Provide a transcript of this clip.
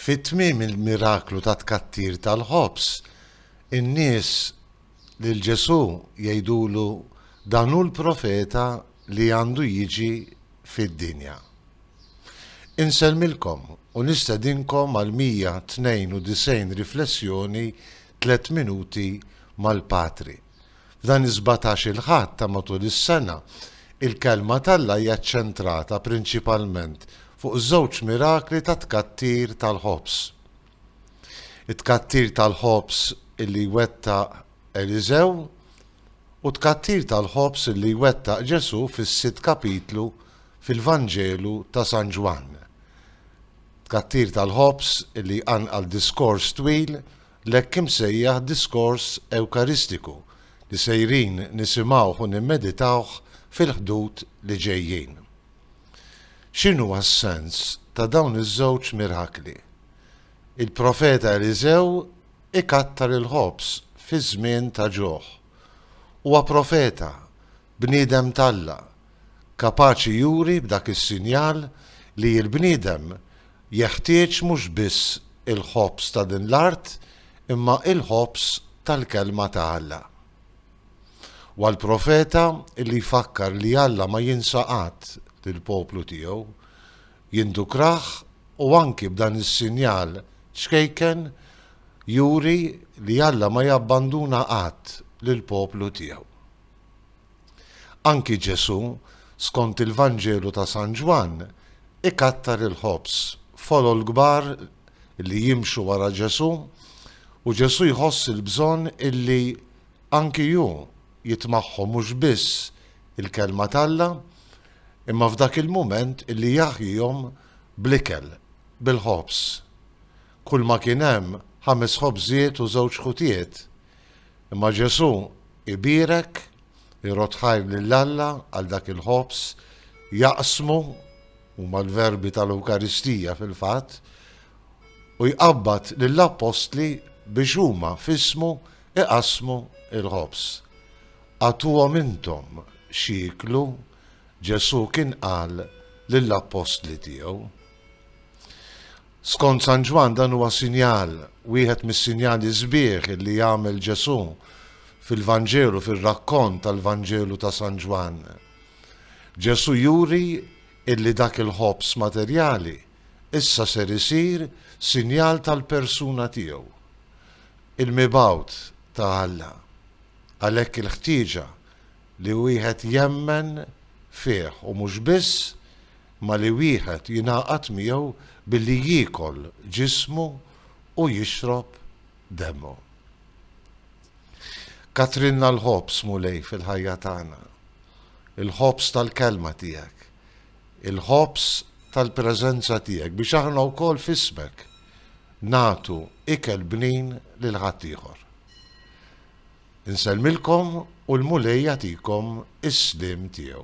Fi tmiem il-miraklu tat-tkattir tal-ħobż, in-nies lil Ġesù jgħidulu dan hu l-profeta li għandu jiġi fid-dinja. Insellmilkom u nistedinkom għal 192 riflessjoni tliet minuti mal-Patri. F'dan is-sbatax-il Ħadd ta' matul is-sena, il-Kelma t'Alla hija ċċentrata prinċipalment fuq żewġ mirakli ta' tkattir tal-ħobż. It-tkattir tal-ħobż li jwettaq Eliżew u t-tkattir tal-ħobż li jwettaq Ġesù fis-sitt kapitlu fil-Vanġelu ta' San Ġwann. Tkattir tal-ħobż li jqanqal diskors twil l-hekk imsejjaħ diskors Ewkaristiku li sejrin nisimgħuh u nimmeditawh fil-ħdud li ġejjin. X'inhu s-sens ta' dawn iż-żewġ mirakli? Il-Profeta Eliżew ikattar il-ħobż fi żmien ta' ġuħ. Huwa profeta Bniedem t'Alla, kapaċi juri b'dak is-sinjal li l-bniedem jeħtieġ mhux biss il-ħobż ta' din l-art imma l-ħobż tal-Kelma ta' Alla. U għall-profeta li jfakkar li Alla ma jinsa qatt lill-poplu tiegħu, jindukrah u anki b'dan is-sinjal ċkejken juri li Alla ma jabbanduna qatt lill-poplu tiegħu. Anki Ġesù, skont il-Vanġelu ta' San Ġwann, ikattar il-ħobż. Folol kbar li jimxu wara Ġesù, u Ġesù jħoss il-bżonn illi anki hu jit magħhom mhux biss il-Kelma t'Alla, imma f'dak il-mument illi jaħjihom bl-ikel, bil-ħobż. Kulma kien hemm, ħames ħobżiet u żewġ ħutiet. Imma Ġesù ibierek, irodd ħajr lil Alla għal dak il-ħobż, jaqsmu, huma l-verbi tal-Ewkaristija fil-fatt, u jqabbad lill-Appostli biex huma f'ismu iqassmu l-ħobż. Agħtuhom intom x'jieklu, Ġesù kien qal lill-Appostli tiegħu. Skont San Ġwann dan huwa sinjal, wieħed mis-sinjali sbieħ li jagħmel Ġesù fil-Vanġelu, fir-rakkont tal-Vanġelu ta' San Ġwann. Ġesù juri illi dak il-ħobż materjali issa ser isir sinjal tal-persuna tiegħu, il-mibgħut ta' Alla. Għalhekk il-ħtieġa li wieħed jemmen fih u mhux biss ma' li wieħed jingħaqad miegħu billi jiekol ġismu u jixrob demmu. Kattrilna l-ħobż, Mulej, fil-ħajja tagħna, il-ħobż tal-Kelma tiegħek, il-ħobż tal-preżenza tiegħek biex aħna wkoll f'ismek nagħtu ikel bnin lil ħaddieħor. Insellmilkom u l-Mulej jagħtikom is-sliem tiegħu.